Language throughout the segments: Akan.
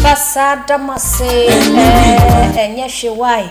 Fasada mase, eh, enye she why.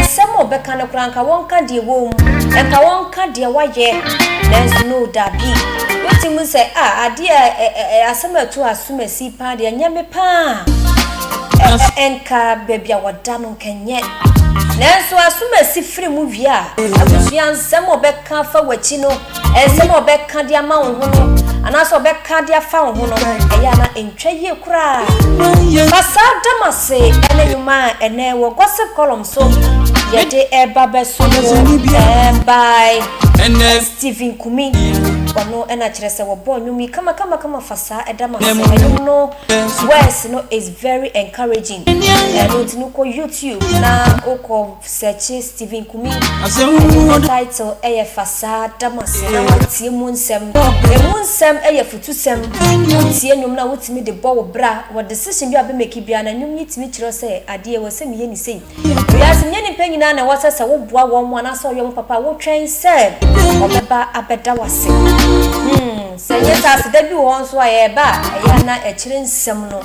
Nsɛm a ɔbɛka no koraa, nka wɔnka deɛ ɛwɔ mu, nka wɔnka deɛ wayɛ, nanso no, dabi. Wotumi hu sɛ, ah, adeɛ a ɛ, ɛ, ɛ, asɛm a ɛto asomasi paa deɛ, ɛnyɛ me paa. Ɛ, ɛ, nka baabi a wɔda no, nka ɛnyɛ. Nanso asomasi firi mu wie a, abusua nsɛm a ɔbɛ. ka afa w'akyi no, nsɛm a ɔbɛka de ama wo ho no, anaasɛ ɔbɛka de afa wo ho no, ɛyɛ a na ɛntwa yie koraa. Fa saa Damase ne nnwuma a ɛnɛ wɔ gossip column so yɛde ɛba bɛso mu by Stephen Kumi. Ɔno ɛna kyerɛ sɛ wɔbɔ nnwom yi kamakamakama fa saa Damase nnwom no words no is very encouraging. Ɛno nti no kɔ YouTube na wokɔ Sɛkye Stephen Kumi Agye ne title yɛ Fa Saa Da Mo Ase Na Wɔntie Mu Nsɛm. Ɛmu nsɛm yɛ afutusɛm. Wotie nnwom no a wotumi de bɔ wo bra wɔ decision bi a wobɛmake biara na nnwom yi tumi kyerɛ wo sɛ adeɛ ɛwɔ sɛ meyɛ ni sei. Wiase nyɛ nnipa nyinaa na ɛwɔ sɛ sɛ woboa wɔn anaasɛ woyɛ wɔn papa a wotwɛn sɛ wɔbɛba abɛda wo ase. Hmm. Sɛ ɛnyɛ saa a, aseda bi wɔ hɔ nso a ɛba a, ɛyɛ a na ɛkyerɛ nsɛm no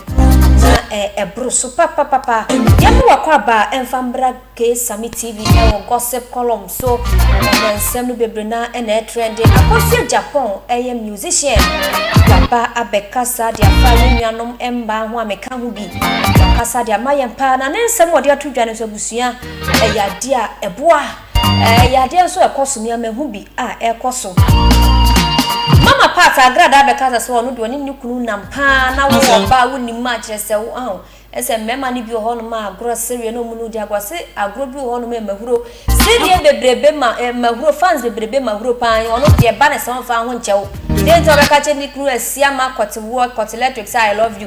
na ɛboro so papapapa. Yɛmma w'akwaaba a ɛmfa mmra K-Same TV wɔ gossip column so. Ɛnnɛ nsɛm no bebree no ara na ɛtrɛnde. Akosua Japan yɛ musician. Waba abɛkasa de afa yɛn nuanom mmaa ho a meka ho bi. Wakasa de ama yɛn paa, na ne nsɛm a ɔde ato dwa no nso, abusua, ɛyɛ adeɛ a ɛboa. Ɛyɛ adeɛ nso a ɛkɔ so, mea mahu bi a ɛrekɔ so. Mama Pat agradaa bɛkasa sɛ ɔno deɛ ɔne ne kunu nam paa na wo ɔba a wonim ma akyerɛ sɛ wo aho ɛsɛ mmarima no bi wɔ hɔnom a agorɔ sereɛ na ɔmu no di agorɔ se agorɔ bi wɔ hɔnom a ɛmahuro sereɛ bebrebe ma ɛmahuro fans bebrebe mahuro paa ɔno deɛ ba ne sɛ ɔmfa ho nkyɛw deɛ nti ɔbɛka kyɛ ne kunu asia ma kɔte woɔ kɔte electric sɛ I love you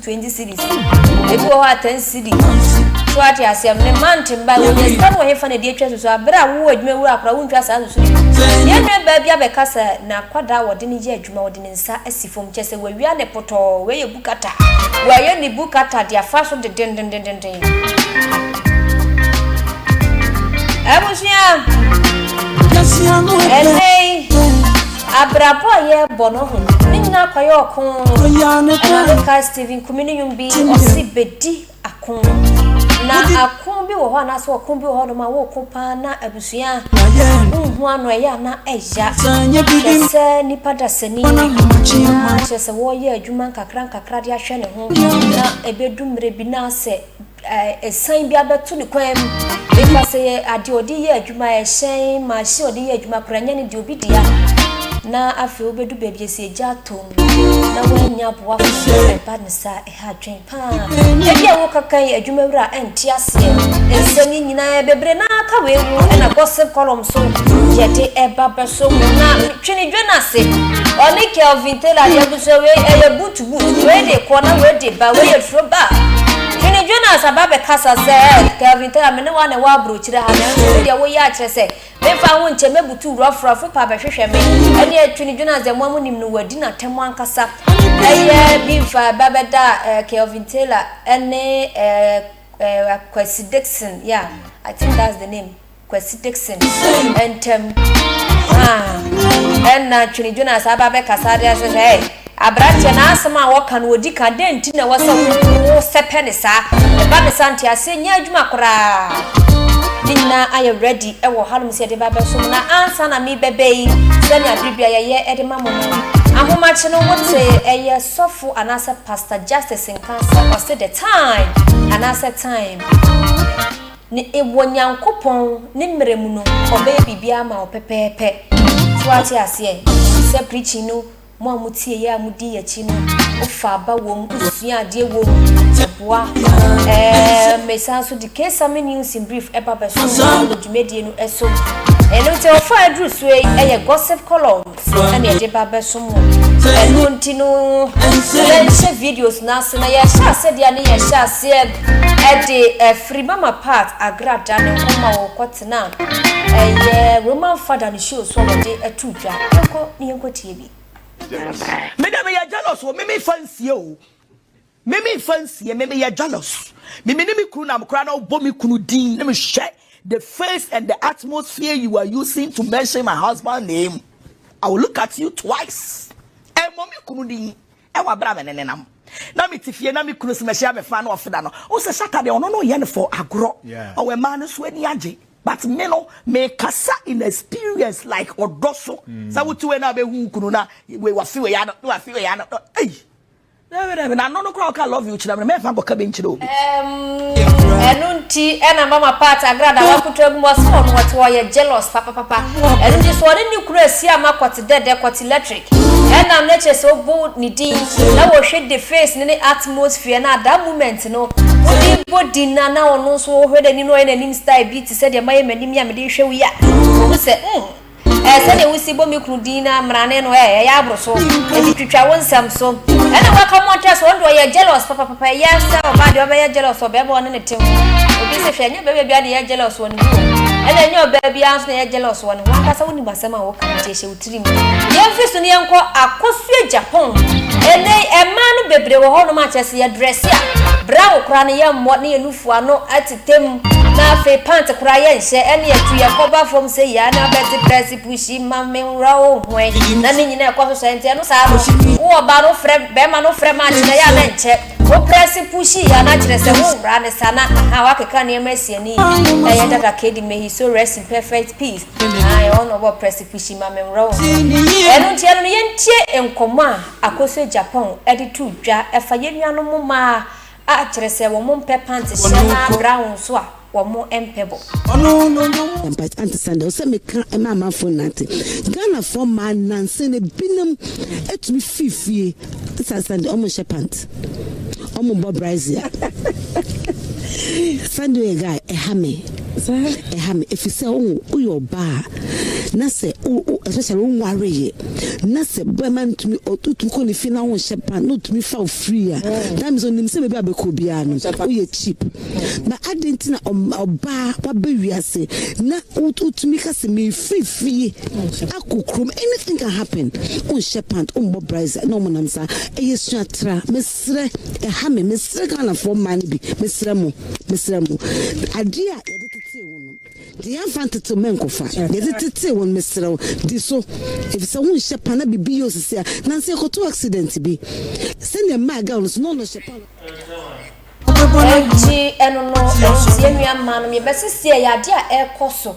twenty cities ebi wɔ hɔ a ten cities so ate aseɛ no ne mante mba wɔnya sika no wɔ hefa na ɛde atwa susu aberɛ a wowɔ adwuma wura akora wontwa saa susu no yɛn nua baa bi abɛka sɛ n'akwadaa wɔde no yɛ adwuma wɔde ne nsa asi fam kyɛ sɛ wawia ne potɔɔ wei yɛ bukata wɔayɛ ne bukata de afa so dedendendenden abusua ɛnɛi Abrabɔ a yɛbɔ no ho no, ne nyinaa kɔyɛ ɔko. Ɛna meka Stephen Kumi ne nnwom bi, ɔse bɛdi ako. Na ako bi wɔ hɔ anaasɛ ɔko bi wɔ hɔ nom a wɔko paa na abusua nhu ano ɛyɛ ana ɛya. Kyerɛ sɛ nipa dasani na kyerɛ sɛ wɔyɛ adwuma nkakra nkakra de ahwɛ ne ho na ɛbɛdu mmerɛ bi na sɛ Ɛsan bi abɛto ne kwan mu. Ɛfa sɛ yɛ adeɛ ɔde yɛ adwuma, ɛhyɛn, machine ɔde yɛ adwuma koraa nyɛ ne deɛ obi dea. Na afei wobɛdu baabi ɛsɛ gya atom na woanya aboa foforɔ na ɛba ne saa ɛha adwen paa. Ɛbi a wokaka yi adwuma wura ɛnte aseɛ. Nsɛm yi nyinaa bebree na aka wei mu ɛna gossip column so yɛde ɛba bɛso mu na twene dwa no ase. Ɔne Kelvin Taylor deɛ nso wei ɛyɛ butu. Wei de kɔ na wei de ba, wei yɛ turo ba. Twene Jonas aba bɛkasa sɛ, Kelvin Tera, me ne wo a na ɛwɔ aburokyire ha, nanso wo deɛ woyɛ akyerɛ sɛ memfa ho nkyɛ mɛbutu wura afurafo pa bɛhwehwɛ me. Ɛneɛ Twene Jonas deɛ moa monim no, wadi n'atɛm ankasa. Ɛyɛ bi mfa ba bɛda eh, Kelvin Taylor ɛne eh, eh, Kwesi Dixon, yeah, I think that's the name. Kwasi Dixon ntam a ɛna Twene Jonas aba bɛkasa de asɛ sɛ ɛ aberanteɛ na asɛm a wɔka no wɔdi ka dɛn nti na ɛwɔ sɛ wosɛpɛ ne saa ɛba ne saa nteaseɛ nyɛ adwuma koraa ne nyinaa ayɛ ready ɛwɔ hanom sɛ yɛde ba bɛsom na ansa na mebɛbɛ yi sɛnea bere bia yɛyɛ ɛde ma mo no ahomakye no wote ɛyɛ sɔfo anaasɛ pastor justice nka sɛ ɔse the time anaasɛ time Ne wɔ Nyankopɔn ne mmerɛ mu no ɔbɛyɛ biribiara ama wo pɛpɛɛpɛ. So wate aseɛ? Sɛ preaching no, mo a mo tieɛ a mo dii akyi no, wo fa aba wɔ mu, wo sua adeɛ wɔ mu, ɛboa. Ɛɛm, me san so de Kesame News in Brief ɛba bɛso wɔ dwumadie no ɛso. Ɛno nti, ɔfa aduru soɔ yi ɛyɛ Gossip Column. ɛna ɛde ba bɛsom wɔn ɛno nti no yɛnhyɛ videos no ase na yɛhyɛ ase deɛ ne yɛhyɛ aseɛ ɛde ɛfiri mama part agrada ne nkɔma wɔ kɔtena ɛyɛ roman fada ne show so wɔde ato dwa ɛnkɔ ne yɛnkɔ tie bi mede meyɛ jealous o meme fa nsie o Me me nfa nsie me me yɛ jealous me me ne me kunu na me koraa na ɔbɔ me kunu din ne me hwɛ the face and the atmosphere you are using to mention my husband name I will look at you twice ɛmmɔ me kunu din ɛwɔ abira me ne nenam na me ti fie na me kunu si mɛhyɛ abɛfa na ɔfeda no o sɛ sata deɛ ɔno no yɛ no for agorɔ ɔwɔ mmaa no so ani agye but me no me kasa in experience like ɔdɔ so sɛ wotu wei na abɛhu kunu na wei wafi wei ano na wafi wei ano ei. N'ano no koraa ɔka love you kyerɛ me no mɛmfa nkɔka bi nkyerɛ obi. Ɛno nti ɛna mama part agrada wakutu agu mu ɔse wɔn wɔte wɔyɛ jealous papapapa ɛno nti so ɔne ne kunu asi ama kɔte dɛdɛ kɔte electric ɛnam ne kyerɛ sɛ obu ne din na wɔhwɛ de face ne ne atmosphere na that moment no wode bɔ din na na ɔno nso wɔhwɛ n'anim na ɔyɛ n'anim style bi te sɛ deɛ mayɛ m'anim yi a mede hwɛ wo yi a ohu sɛ mm Ɛɛ sɛdeɛ wosi bɔ me kunu din no ara mmarane no ɛɛ ɛyɛ aboro so enti twitwa wo nsɛm so ɛna woaka mu ɔtɛ so ɔno deɛ ɔyɛ jealous papapapa ɛyɛ sɛ ɔbaa deɛ ɔbɛyɛ jealous wɔ bɛɛba ɔne ne te ho obi se hwɛ ɛnyɛ bɛɛba biara na ɛyɛ jealous wɔ ne ho ɛna ɛnyɛ ɔbaa biara nso na ɛyɛ jealous wɔ ne ho ankasa wonim asɛm a woka nti ɛhyɛ wo tirim yɛmfi so ne yɛnkɔ akosua Japan ɛnɛ ɛmaa no bebree wɔ hɔ nom akyɛ sɛ yɛdrɛse a bra wo koraa no yɛmmɔ ne yɛnufu ano ati Tɛm. Na afei pant koraa yɛ nhyɛ ɛneɛ tu yɛ kɔ ba fam sɛyi ara na bɛte prɛse pushi ma me nwura o hwɛn na ne nyinaa ɛkɔ so sɛɛ nti ɛno saa no wo ɔbaa no frɛ bɛɛma no frɛ match na ɛyɛ a na ɛnkyɛ wo prɛse pushi yɛ a na kyerɛ sɛ wo nwura ne saa na ahaa wakeka nneɛma asi ani yi ɛyɛ dada kedi may his soul rest in perfect peace na ɛwɔ na ɔbɔ prɛse pushi ma me nwura o hwɛn ɛno nti ɛno no yɛntie nkɔmmɔ a Akosua Japan ɛde tu dwa ɛfa yɛn nuanom mmaa A, kyerɛ sɛ wɔn mpɛ pant hyɛ na brown nso a wɔn mpɛ bɔ. Ampa ante saa deɛ ɔsɛ meka ma amanfoɔ nyinaa te Ghanafoɔ mmaa nansa no binom atumi firi fie sa sa deɛ ɔmo nhyɛ pant ɔmo bɔ brazier sa deɛ yɛ guy ɛha me. Saa ɛha me efisɛ o woyɛ ɔbaa a na sɛ o o especially wo nware yɛ na sɛ bɛma ntumi ɔtumi kɔ ne fi na wonhyɛ pan na ɔtumi fa ofiri a that means onim sɛ baabi a bɛkɔ biara no woyɛ cheap na adɛn nti na ɔbaa wabɛ wiase na wotumi ka sɛ mefiri fie akɔ kurom anything can happen wonhyɛ pant wombɔ brisa na ɔmonam saa ɛyɛ suatra Serɛ, ɛha me, mesrɛ Ghanafoɔ mmaa no bi, mesrɛ mo, mesrɛ mo, adeɛ a yɛde tetee wo no, deɛ yɛamfa ntetee mɛnkɔfa, deɛ yɛde tetee wo no, mesrɛ wo, di so, ɛfiri sɛ wonhyɛ pa, na biribi yɛ wo sisi a, nansa yɛkɔtoo accident bi, sɛdeɛ mmaa girl no so, na ɔno ɔhyɛ pa. Enti ɛno no, ɛnti yɛn nua mmaa no, yɛbɛsisi ɛyɛ adeɛ a ɛrekɔ so.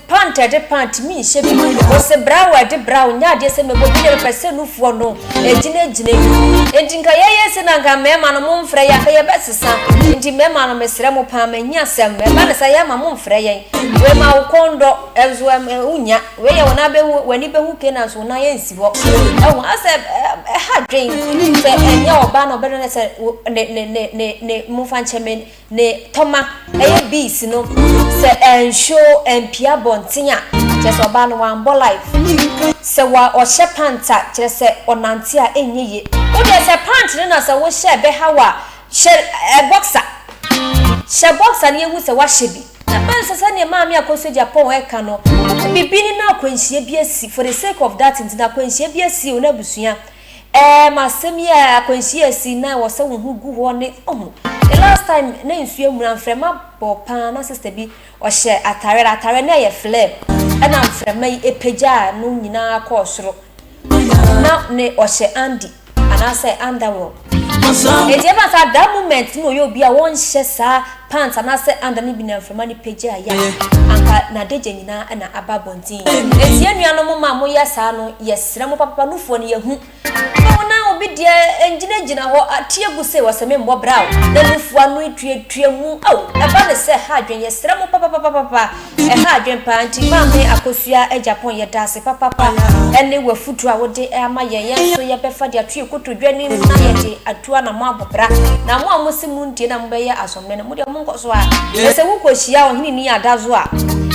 Pant a ɛde pant mi nhyɛ bi. Wɔsɛ brow a ɛde brow nyɛ adeɛ sɛ mɛbɔ bi na mepɛ sɛ nufoɔ no ɛgyinagyina mu. Enti nka yɛyɛ sei na nka mmarima no momfrɛ yɛn anka yɛbɛsesa. Enti mmarima no mesrɛ mo paa m'ahiasɛm no ɛba no saa yɛma momfrɛ yɛn. Wei ma wo kɔn dɔ nso ɛm ɛm wonnya. Wei yɛ wo nan bɛhu w'ani bɛhu kei nanso wo nan ɛnsi hɔ. Wahu asɛ ɛha adwene sɛ ɛnyɛ ɔbaa na ɔbɛdɔ no sɛ wo ne ne ne ne ne momfa nkyɛ me. ne tɔma ɛyɛ bees no sɛ ɛnhyo ɛmpie abɔnten a kyerɛ sɛ ɔbaa no wambɔ life sɛ wa ɔhyɛ pant a kyerɛ sɛ ɔnante a ɛnyɛ ye. Wo deɛ sɛ pant no na sɛ wo hyɛ ɛbɛha wo a hyɛ ɛɛ boxer hyɛ boxer na yɛnhu sɛ wahyɛ bi na bɛn sɛ sɛdeɛ maame Akosua Agyapong ɛka no biribi ne na akwanhyia bi asi for the sake of that nti na akwanhyia bi asi wo na abusua Ɛɛm asɛm yi a akwanhyia a ɛsii na ɛwɔ sɛ wo ho gu hɔ ne ohu the last time na nsuo amuna mfrɛma bɔ paa na sister bi ɔhyɛ atare na atare no ɛyɛ flare ɛna mfrɛma yi ɛpagyaa no nyinaa kɔɔ soro na ne ɔhyɛ andi anaasɛ underwear ɛti ɛba saa that moment na ɔyɛ obi a wɔnhyɛ saa Pants anaasɛ under no bi na mframa no pagya a, yah, anka n'adagya nyinaa na aba abɔnten. Enti yɛn nuanom mma a moyɛ saa no, yɛsrɛ mo papapa, nufoɔ no yɛahu. Mma wo na obi deɛ ngyinagyina hɔ ateɛ gu sei, ɔsɛ memmɔ bra o, na nufoɔ ano etuatua mu, ao, ɛba no sɛ ha adwen, yɛsrɛ mo papapapapapa, Ɛha adwen paa nti maame akosua Agyapong yɛdaase papapa ɛne wafuduro a wode ama yɛn yɛn nso yɛbɛfa de ato yɛn kotodwe anim na yɛde atu anamɔ abɔ bra na mo a mo se mo ntie na mo bɛyɛ asomdwe no mo deɛ mo nkɔ so a na sɛ wo kɔ hyia ɔhene ni adazo a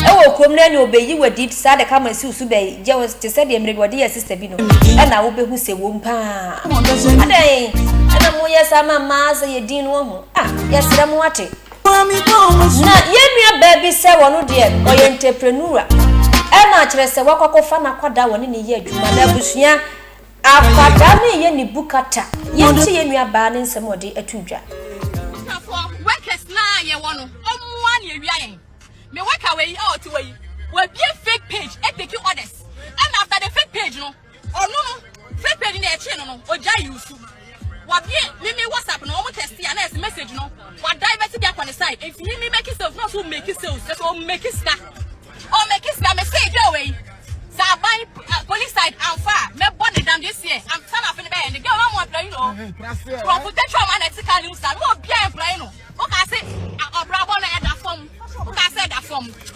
ɛwɔ kurom na ɛne ɔbɛyi wadi saa de kama siw so bɛyi gye wo te sɛ deɛ mmerɛ bi ɔde yɛ sista bi no ɛna wo bɛhu sɛ wɔm paa adɛn ɛna mo yɛ saa ma mmaa sɛ yɛ din no ho ah yɛsrɛ mo ate Na yɛn nua baa bi sɛ wɔno deɛ ɔyɛ ntɛprenura ɛna kyerɛ sɛ wakɔkɔfa n'akwadaa wɔne ne yɛ adwuma na abusua akwadaa no yɛ ne bukata yɛnti yɛn nua baa ne nsɛm ɔde ato dwa. Workers na yɛwɔ no ɔmmoa ne awia yɛn me worker wei a ɔte wei wabie fake page ɛteki orders ɛna after the fake page no Ɔno no fɛ pɛ ni na ɛkyee no no ɔgya yi usu. Wabie mimi WhatsApp no ɔmo test ya na ɛsi message no wa divert bi akɔ ne side. Enti mimi make sales na ɔso make sales ɛso ɔmo make sika. Ɔmo make sika me say girl wei. Sɛ aban eh, police side amfa a mɛbɔ ne dam this year. Am sana afei ne bɛyɛ ne girl na ɔmo ɔpra yi no. Kurɔfo tɛtwa ɔmo ana ɛte ka ne mu saa. Mo obi a ɛpra yi no. Woka se ɔbrabɔ no ɛda fam. Woka se ɛda fam.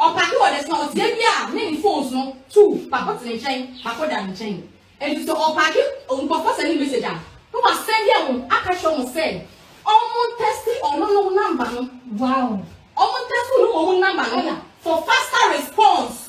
Ɔka sɛ ɔde sɔɔteɛ bi a ne ne phones no tuu Bakotene nkyɛn Bakoda no nkyɛn. Enti sɛ ɔtaage nkurɔfoɔ sɛne message a, na wasɛnde wɔn aka kyerɛ wɔn sɛ wɔn ntɛste ɔno no number no. Wow. Wɔn ntɛste ɔno wɔn number no for faster response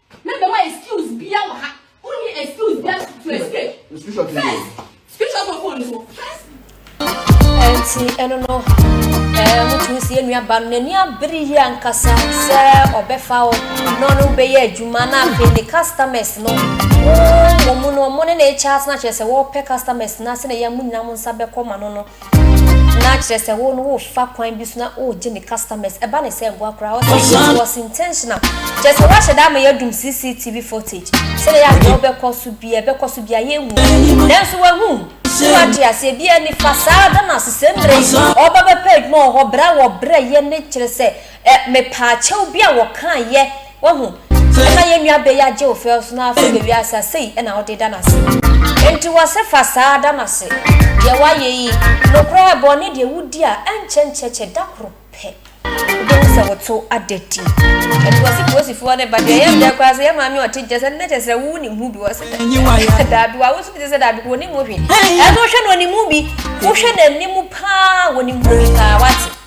Me bɛ ma excuse bia wɔ ha. Wo ni excuse bia to escape. Screenshot ni. Screenshot wɔ phone so. Enti ɛno no ɛɛ mo tumi si enua ba no n'ani abere yi ankasa sɛ ɔbɛfa o na ɔno bɛyɛ adwuma na afei ne customers no wɔn mu no wɔn ne na ɛkyɛ asena kyerɛ sɛ wɔpɛ customers na sɛ na yɛn mo nyinaa mo nsa bɛkɔ ma no no. Na kyerɛ sɛ wo no wo fa kwan bi so na o gye ne customers ɛba ne sɛ ɛboa koraa ɔsɛ it was intentional kyerɛ sɛ wahyɛ da ama yɛadum CCTV footage sɛdeɛ yɛ adeɛ ɔbɛkɔ so bia ɛbɛkɔ so bia yɛnhu nanso wahu so wate aseɛ bia nifa saa da no ase sɛ mmerɛ ɔba bɛpɛ adwuma wɔ hɔ berɛ a wɔbrɛ yɛ ne kyerɛ sɛ Ɛ mepaa kyɛw bi a wɔkaa yɛ, wahu. Ka yɛn nua bɛ yi agye wo fɛw so na afei bɛ wiase a, sei na wode da no ase. Enti wɔse fa saa da no ase. Deɛ woayɛ yi, nokorɛ ɛ bɔne deɛ wodi a, ɛnkyɛ nkyɛkyɛ da koro pɛ, wobɛhu sɛ wo to ada di. Enti wɔse polisifoɔ no ba, deɛ ɛyɛ me dɛ koraa sɛ yɛ maame a ɔte nkyɛn sɛ nnɛ kyɛ srɛ wo wonim ho bi wɔ se dɛ, daabi wa, wo nso gye sɛ daabi kɔ ɔnim ho hwee. Ɛno wohwɛ no ɔnim ho bi, wohwɛ n'anim paa ɔnim ho bi paa, wate.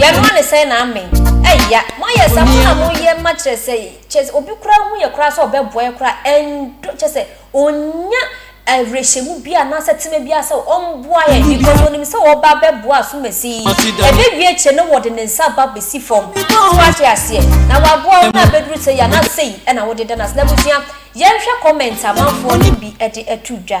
Yɛnoa no sɛn na amen. Eya moayɛ sa mo na mo yɛ ma kyerɛ sɛ kyerɛ sɛ obi koraa hu yɛ koraa sɛ ɔbɛboa yɛ koraa ɛndɔ kyerɛ sɛ onnya awerɛhyɛmu biaa anaa sɛtema biaa sɛ ɔmboa yɛn because onim sɛ ɔɔba abɛboa asomasi yi ɛbɛwie akyire no wɔde ne nsa ba bɛsi fam so wate aseɛ na waboa wo na abɛduru sɛi anaa sɛi ɛna wode da no ase n'abusua yɛnhwɛ comment amanfoɔ no bi ɛde ato dwa.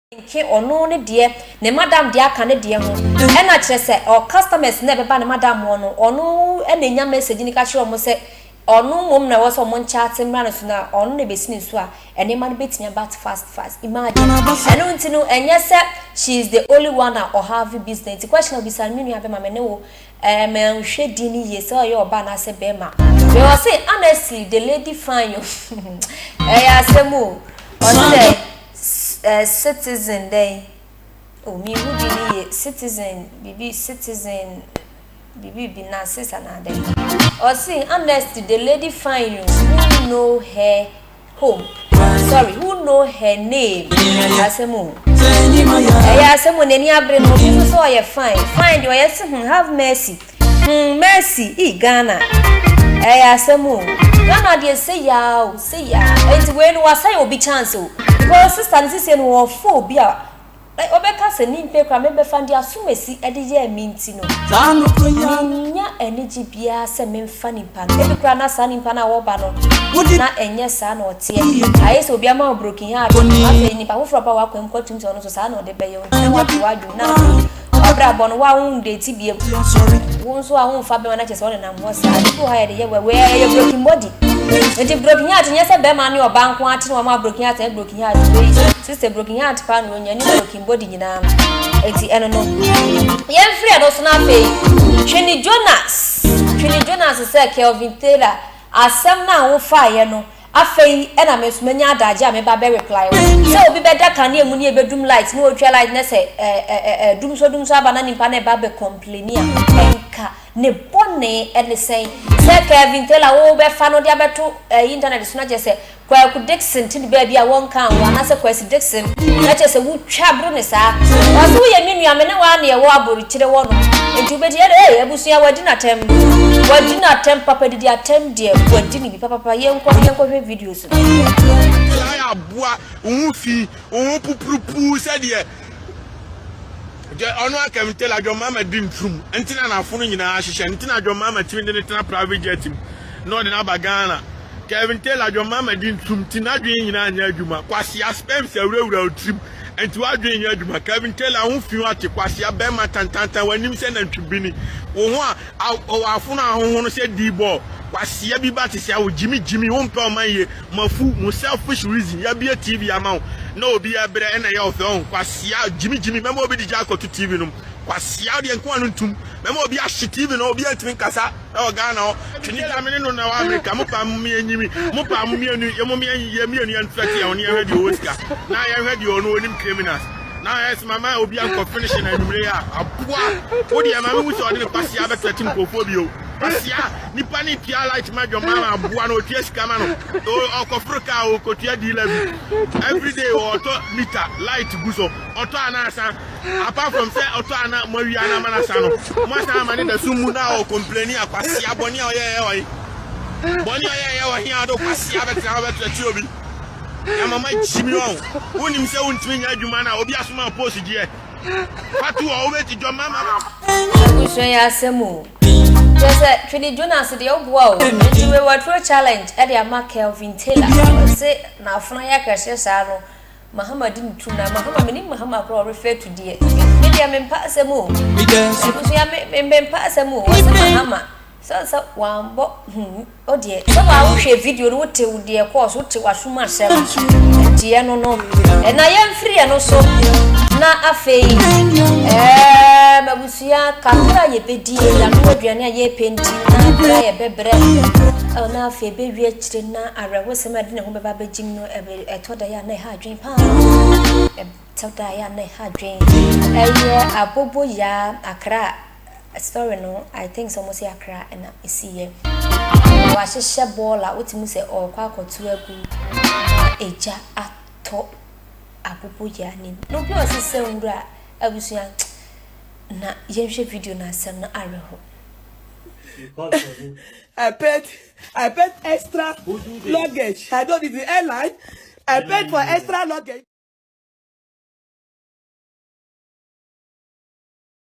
nkenke ɔno ne deɛ ne madam deɛ aka ne deɛ ho ɛna kyerɛ sɛ ɔ customers na ɛbɛba ne madam hɔ no ɔno ɛna enya message no ka kyerɛ ɔmo sɛ ɔno mmom na ɛwɔ sɛ ɔmo nkyate mmra no so na ɔno na ɛbɛsi ne so a ɛneɛma no bɛtumi aba fast fast imagine ɛno nti no ɛnyɛ sɛ she is the only one a ɔ have business nti question a ɔbisa no me nua bɛma me ne wo ɛɛ ma nhwɛ din no yie sɛ ɔyɛ ɔbaa anaasɛ bɛɛma me ɔse honestly the lady fine o ɛyɛ asɛm o ɔse dɛ. Citizen dɛn oh me nhu din no yie citizen biribi citizen biribi bi nurses anaa dɛn ɔse amnesty the lady fine oh who know her home sorry who know her name ɛyɛ asɛm o ɛyɛ asɛm o n'ani abere no obi nso sɛ ɔyɛ fine fine deɛ ɔyɛ se hmm have mercy. Hum mercy ii Ghana ɛyɛ asɛm oo. Ghana deɛ seyaa o seyaa. Ɛnti wei no wasɛe obi chance o because sister no sesie no ɔɔfa obi a ɔbɛka sɛ mempɛ koraa mɛbɛfa deɛ asumasi de yɛɛ me nti no mennya anigye biara sɛ memfa nipa no ebi koraa na saa nipa no a ɔba no na ɛnyɛ saa na ɔteɛ ayɛ sɛ obi ama wo broken heart afei nipa foforɔ ba wakwan mu kɔtom sɛ ɔno nso saa na ɔde bɛyɛ wo nti na wate w'adwene mu na afei W'abrabɔ no, wo a wo ndeti biam. Wo nso a wo nfa bɛma na kyɛ sɛ ɔnenam hɔ saa. Ebi wɔ ha yɛde yɛ wɛ wɛ yɛ broken body. Nti broken heart nyɛ sɛ bɛma ne ɔba nko ate na wɔama broken heart ɛyɛ broken heart. Sister broken heart pa na onya ne broken body nyinaa no. Eti ɛno no. Yɛn firi ɛno so na afei. Twene Jonas. Twene Jonas sɛ Kelvin Taylor asɛm na wo fa yɛ no. Afei na me nso menya adagye a me ba bɛ reply wo. Sɛ obi bɛda kanea mu ne ɛbɛdum light ne ɔtwa light na sɛ ɛdum so dum so aba na nipa no ɛba bɛ complaini a ɛnka ne bɔne ɛne sɛn? Sɛ Kelvin Taylor a wo bɛfa no de abɛto internet so na kyerɛ sɛ Kwaku Dickson te ne baabi a wɔnka wo anaasɛ Kwasi Dickson na kyerɛ sɛ wotwa bro ne saa? Ɔse woyɛ me nua me ne wo ara na yɛwɔ aborikyire hɔ nom nti wobɛtumi ɛde ee abusua wadi no atɛm wadi no atɛm papa didi atɛm deɛ wadi no bi. Papapa yɛnkɔ yɛnkɔhwɛ videos no. Gyae aboa wo ho fi wo ho pupurupuu sɛdeɛ Dwa ɔno aka me Taylor John Mahama di nturum nti na n'afono nyinaa ahyehyɛ nti na John Mahama tumi de no tena private jet mu na ɔde no aba Ghana Kevin Taylor John Mahama di nturum nti n'adwene nyinaa nyɛ adwuma kwasea sperms awurawura wo tirim nti w'adwene nyɛ adwuma Kevin Taylor ho fi wate kwasea bɛrima tantantan w'anim sɛ nantwibini wo ho a Ao ɔwɔ afono ahohono sɛ dibɔ kwasia bi ba te sɛ wo gyimi gyimi wo mpɛ ɔman yie mo afu mo selfish reason yabie TV ama wo na obi ɛbrɛ ɛna ɛyɛ ɔfɛ ɔho kwasia gyimi gyimi mɛma obi de gya akɔto TV nom kwasia wodeɛ nko a no ntum mɛma obi ahye TV no obi antumi nkasa ɛwɔ Ghana hɔ twene gya mene no na ɛwɔ America mo paa mo mmiɛ nyimi mo paa mo mmienu yɛ mo mmiɛ yɛ mmienu yɛn fɛte yɛn ho ne yɛn hwɛ deɛ ɔwɔ sika na yɛn hwɛ deɛ ɔno ɔnim criminals. na ɛsɛ mama obi ankɔ finish na anwummere a aboa wo deɛ maame hu sɛ ɔde ne kwasia abɛtɔ ti nkurɔfoɔ bio kwasia nipa ne tua light ma dwom ma aboa no ɔtua sika ma no ɔkɔforo kaa ɔkɔtua diila bi everyday ɔtɔ mita light gu so ɔtɔ anaasa apart from sɛ ɔtɔ ana mo awia no ama no asa no mo asan ama ne da so mu na ɔkɔmplani a kwasia bɔne a ɔyɛɛyɛ ɔye bɔne a ɔyɛɛyɛ ɔhe a ɔde kwasia bɛtena hɔ bɛtɔ ti obi Yɛama magye me ɔn. Wonim sɛ wontumi nyɛ adwuma no a obi asoma post deɛ. Fato ɔ wobɛti dwɔ mama. Abusua yi asɛm o. Kyerɛ sɛ Twene Jonas deɛ woboa o. Nti wei waturo challenge ɛde ama Kelvin Taylor. Ɔse n'afono ayɛ akɛseɛ saa no Mahama di ne turom. Na Mahama menim Mahama koraa ɔ refer to deɛ. Me deɛ mempa asɛm o. Abusua me mempa asɛm o. Ɔse Mahama. Ɛsiane sɛ wɔammɔ ho hu no deɛ, sɛ wo a wohwɛɛ video no wotew deɛ ɛkɔɔ so, wotew asom asɛm gyeɛ no no, na yɛmfiri ɛno so na afei ɛɛm abusua kakra a yɛbɛdie, yɛanoa aduane a yɛrepɛ nti na berɛ a yɛbɛbrɛ ɛwɔ na afei ɛbɛwie akyire na awerɛhosɛm a ɛde ne ho bɛba abɛgyim no ɛtɔ da yɛ a na ɛha adwene paa ɛtɔ da yɛ a na ɛha adwene ɛyɛ abobo yaa akra story no I think sɛ wɔsi akra na esi yɛ. Wahyehyɛ bɔɔl a wote mu sɛ ɔrekɔ akɔto agu na egya atɔ apopo yɛ anim. Na obi wɔ se sɛ nwura abusua na yɛnhwɛ video na asɛm no awerɛho. I paid I paid extra luggage. I don't even airline. I paid for extra luggage.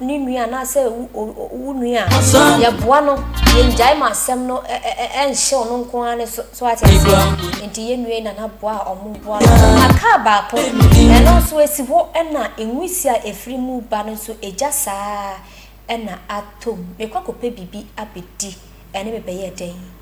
ne nua anaasɛ wo nua a yɛboa no yɛngyae ma asɛm no ɛnhyew no nko ara ne so so ate aseɛ nti yɛn nua yi nana boa a ɔmo boa no na kaa baako ɛno nso esi hɔ ɛna nwisi a efiri mu ba no nso egya saa ɛna atom mekɔ akɔpɛ biribi abɛdi ɛne mebɛyɛ dɛn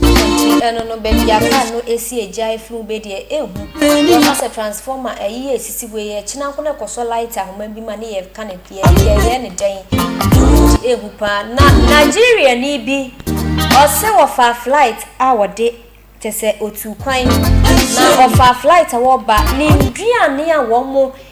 Nti ɛno no baabi a car no esi egya efiri mu bɛ deɛ ehu. Yɛ ma sɛ transformer ɛyi yɛ esisi hɔ yi ɛkyina nko na ɛkɔsɔ light ahoma bi ma ne yɛ ka ne yɛ yɛ yɛ ne dɛn. Nti ehu paa na Nigeria ni bi ɔsɛ ɔfaa flight a ɔde kyɛ sɛ otuu kwan na ɔfaa flight a ɔba ne nduane a wɔn mo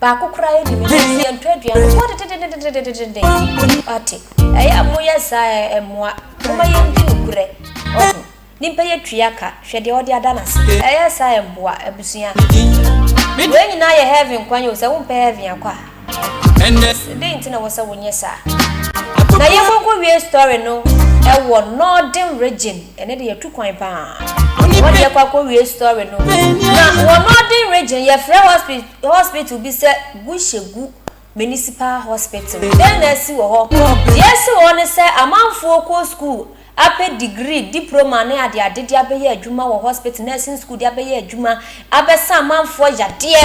Baako koraa yɛ nimi nso yɛ ntɔ aduane no so ɔde dededededededededen ɔte ɛyɛ a mo yɛ saa ɛ ɛmoa mo ma yɛn di no korɛ ɔho nimpa yɛ tua ka hwɛ deɛ ɔde ada n'ase ɛyɛ saa ɛ mboa abusua wei nyinaa yɛ heaven kwan yɛ o sɛ wo mpɛ heaven akɔ a sɛ dɛn nti na wɔ sɛ wo nyɛ saa na yɛ mo nko wie story no ɛwɔ northern region ɛnɛ de yɛ tu kwan paa wɔde yɛ kɔ akɔ wie story no na wɔ northern region yɛ frɛ hospital Hospital bi sɛ Gushegu Municipal Hospital. Dɛn na asi wɔ hɔ? Deɛ asi wɔ hɔ ne sɛ amanfoɔ kɔ sukuu apɛ degree, diploma ne adeade de abɛyɛ adwuma wɔ hospital, nursing school de abɛyɛ adwuma, abɛsa amanfoɔ yadeɛ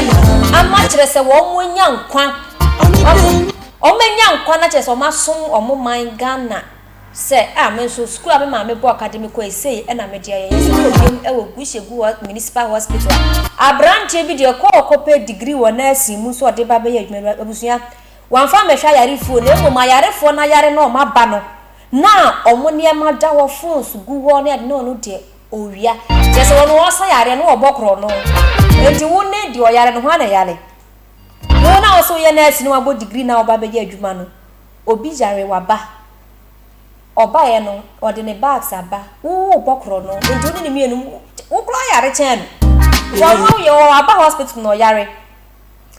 ama kyerɛ sɛ wɔanya nkwa, wɔanya nkwa na kyerɛ sɛ wɔasom wɔn man Ghana. sɛ ah me nso sukuu a me maame bɔɔ ka de me kɔe sei na me deɛ yɛyɛ sukuu biom wɔ Gushegu Municipal Hospital. Abranteɛ bi deɛ ɔkɔɔ kɔ pɛ degree wɔ nursing mu nso ɔde ba bɛyɛ adwuma bi abusua wamfa ammɛhwɛ ayarefoɔ na mmom ayarefoɔ no ayare na wɔn aba no na wɔn nneɛma da hɔ phones gu hɔ ne ade na ɔno deɛ ɔwia kyerɛ sɛ ɔno ɔsa yareɛ no ɔbɔ korɔno enti wo ne deɛ ɔyare no hwan na ɛyare? Wo na wo sɛ woyɛ nurse no wabɔ degree na woba bɛyɛ adwuma no Obi yare waba ɔbaeɛ no ɔde ne bags aba woo bɔkorɔ no nti wo ne ne mmienu mo wo koraa yare kyɛn no because wo yɛ ɔ aba hospital na ɔyare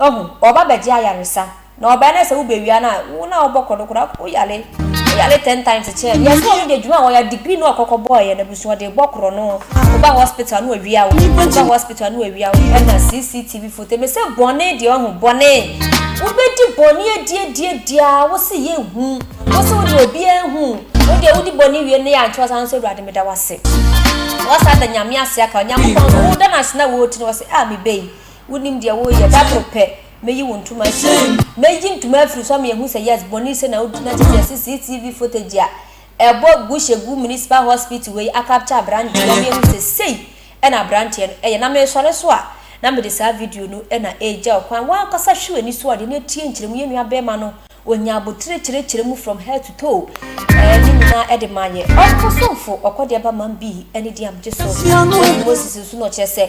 ɔho ɔba bɛgye ayaresa na ɔbaeɛ no sɛ wo bɛ wia no a wo no a wo bɔkorɔ no koraa wo yare wo yare ten times kyɛn no yɛse ɔno deɛ adwuma a ɔyɛ degree no a ɔkɔkɔ bɔeɛ no. So ɔde bɔ korɔ no woba hospital no wawia wo woba hospital no wawia wo ɛna cctv foto me sɛ bɔne deɛ ɔho bɔne wobɛdi bɔne adiadiadia wo se yɛ hu wo se wode obiara hu wo deɛ wodi bɔne wie ne yɛ ankyɛw saa nso awurade meda wase wɔsa da nyame ase aka onyankopɔn no woda no ase na wɔti no wɔse a ah, mebɛyi wonim deɛ woyɛ daboro pɛ mɛyi wo ntoma afiri mɛyi ntoma afiri so ama yɛhu sɛ yes bɔne sɛ na wodi na kyɛ sɛ cctv footage a Ɛbɔ Gushegu Municipal Hospital wei akapture abranteɛ na mehu sɛ sei na abranteɛ no ɛyɛ na mesɔre so a na mede saa video no na ɛregya wo kwan w'ankasa hwe w'ani so ade na tie nkyerɛmu yɛn nua bɛɛma no ɔnya abotire kyerɛkyerɛ mu from head to toe ɛɛ ne nyinaa ɛde ma yɛ ɔkɔ somfo ɔkɔ deɛ ba man bii ɛne deɛ am gye so ɛne Moses nso na ɔkyerɛ sɛ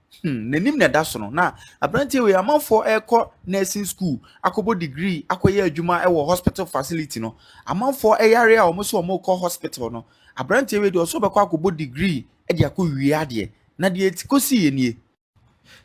Hmm, n'anim na ɛda so no na aberanteɛ wei amanfoɔ ɛrekɔ nursing school akɔbɔ degree akɔyɛ adwuma ɛwɔ hospital facility no amanfoɔ ɛyare a wɔn so wɔn rekɔ hospital no aberanteɛ wei deɛ ɔso bɛkɔ akɔbɔ degree ɛde akɔ wie adeɛ na deɛ eti kɔsi yɛ nie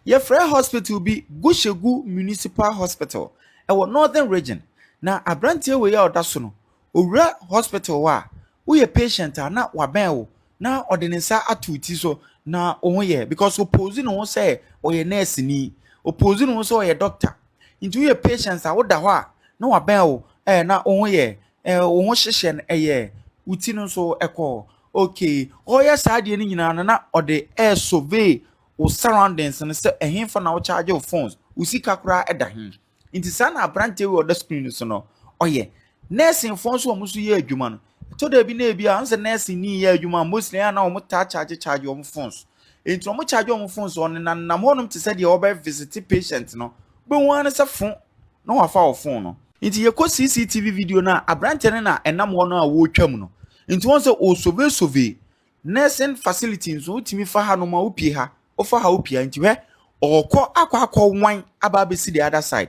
yɛfrɛ hospital bi gushegu municipal hospital ɛwɔ northern region na aberanteɛ wei a ɔda so no Owura hospital hɔ a, woyɛ patient a na wabɛn wo na ɔde ne nsa ato wo ti so na wo ho yɛ because opose ne ho sɛ ɔyɛ nurse ni, opose ne ho sɛ ɔyɛ doctor. Nti woyɛ patient a woda hɔ a na wabɛn wo eh, na wo ho yɛ eh, wo ho hyehyɛ no ɛyɛ wo ti no nso ɛkɔ okay. Ɔyɛ saa adeɛ no nyinaa no na ɔde ɛresurvey wo surroundings no sɛ ɛhenfa na wo charge wo phones, wo sika koraa ɛda he. nti saa na aberanteɛ wei ɔda screen so no ɔyɛ nɛɛsenfoɔ nso wɔn nso yɛ adwuma no ɛtɔ da bi na ebi a ɔnsɛ nɛɛsen ni yɛ adwuma mostly a na wɔn taa charge charge wɔn phones nti wɔn charge wɔn phones wɔn nenam hɔnom te sɛ deɛ wɔbɛ visit patient no bɛhu ara sɛ fo na wafa wɔ phone no nti yɛkɔ cctv video no a aberanteɛ no na ɛnam hɔ no a wɔretwa mu no nti wɔn sɛ ɔsovesove Nursing facility nso wotumi fa ha nom a wopie ha wofa ha wopie ha nti hwɛ ɔkɔ akɔ akɔ wan aba abɛsi the other side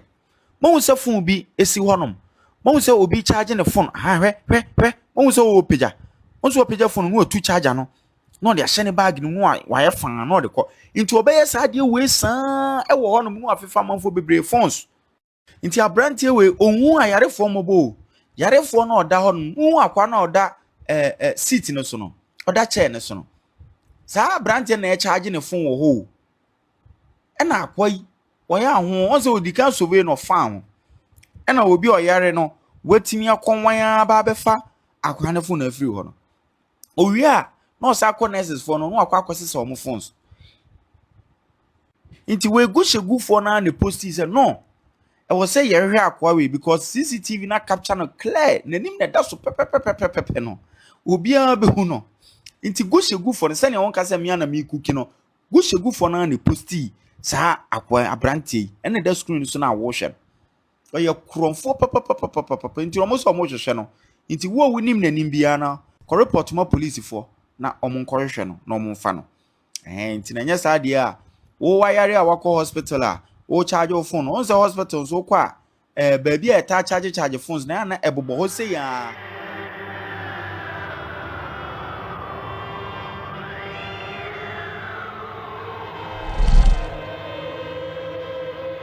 mahu sɛ phone bi esi hɔ nom mahu sɛ obi charge ne phone ha hwɛ hwɛ hwɛ mahu sɛ ɔwɔ pagya nso ɔpagya phone no ɔtu charger no na ɔde ahyɛ ne bag no mu a wayɛ fan na ɔde kɔ nti ɔbɛyɛ saa adeɛ wei saa ɛwɔ hɔ nom na wafefa amanfoɔ bebree phones Nti aberanteɛ wei ɔnhu ayarefoɔ mmɔbɔ o yarefoɔ no ɔda hɔ no wohu akwa no ɔda ɛɛ ɛ seat no so no ɔda chair no so no saa aberanteɛ na ɛkyaagye ne fon wɔ hɔ o ɛna akwa yi wɔyɛ aho wɔn sɛ ɔdi kan sove no ɔfa ho ɛna obi ɔyare no watumi akɔnwan ara ba abɛfa akwa no fon afiri hɔ no Owie a, na ɔsan akɔ nurses foɔ no na wakɔ akɔsesa wɔn phones. Nti wɔagu hyɛgufoɔ no ara na posti sɛ no, ɛwɔ sɛ yɛhwehwɛ akoa wei because CCTV na capture no clear, n'anim na ɛda so pɛpɛpɛpɛpɛpɛ no, obiara bɛhu no. Nti gu hyɛgufoɔ no sɛdeɛ wɔnka sɛ mmea na mekuki no, gu hyɛgufoɔ no ara na posti saa akoa aberanteɛ yi ɛna ɛda screen so na wɔrehwɛ no. ɔyɛ korɔmfoɔ papapapapapa nti wɔn sɛ wɔrehwehwɛ no nti wo a wonim n'anim biara no kɔ report ma polisifoɔ na wɔn nkɔhwehwɛ no na wɔn mfa no ɛhɛn nti na nyɛ saa deɛ a wowayare a wakɔ hospital a wɔrecharge wo phone wɔn sɛ hospital nso wokɔ a ɛɛ eh, baabi a ɛtaa charge charge phones na ɛna ɛbobɔ hɔ sɛ yɛn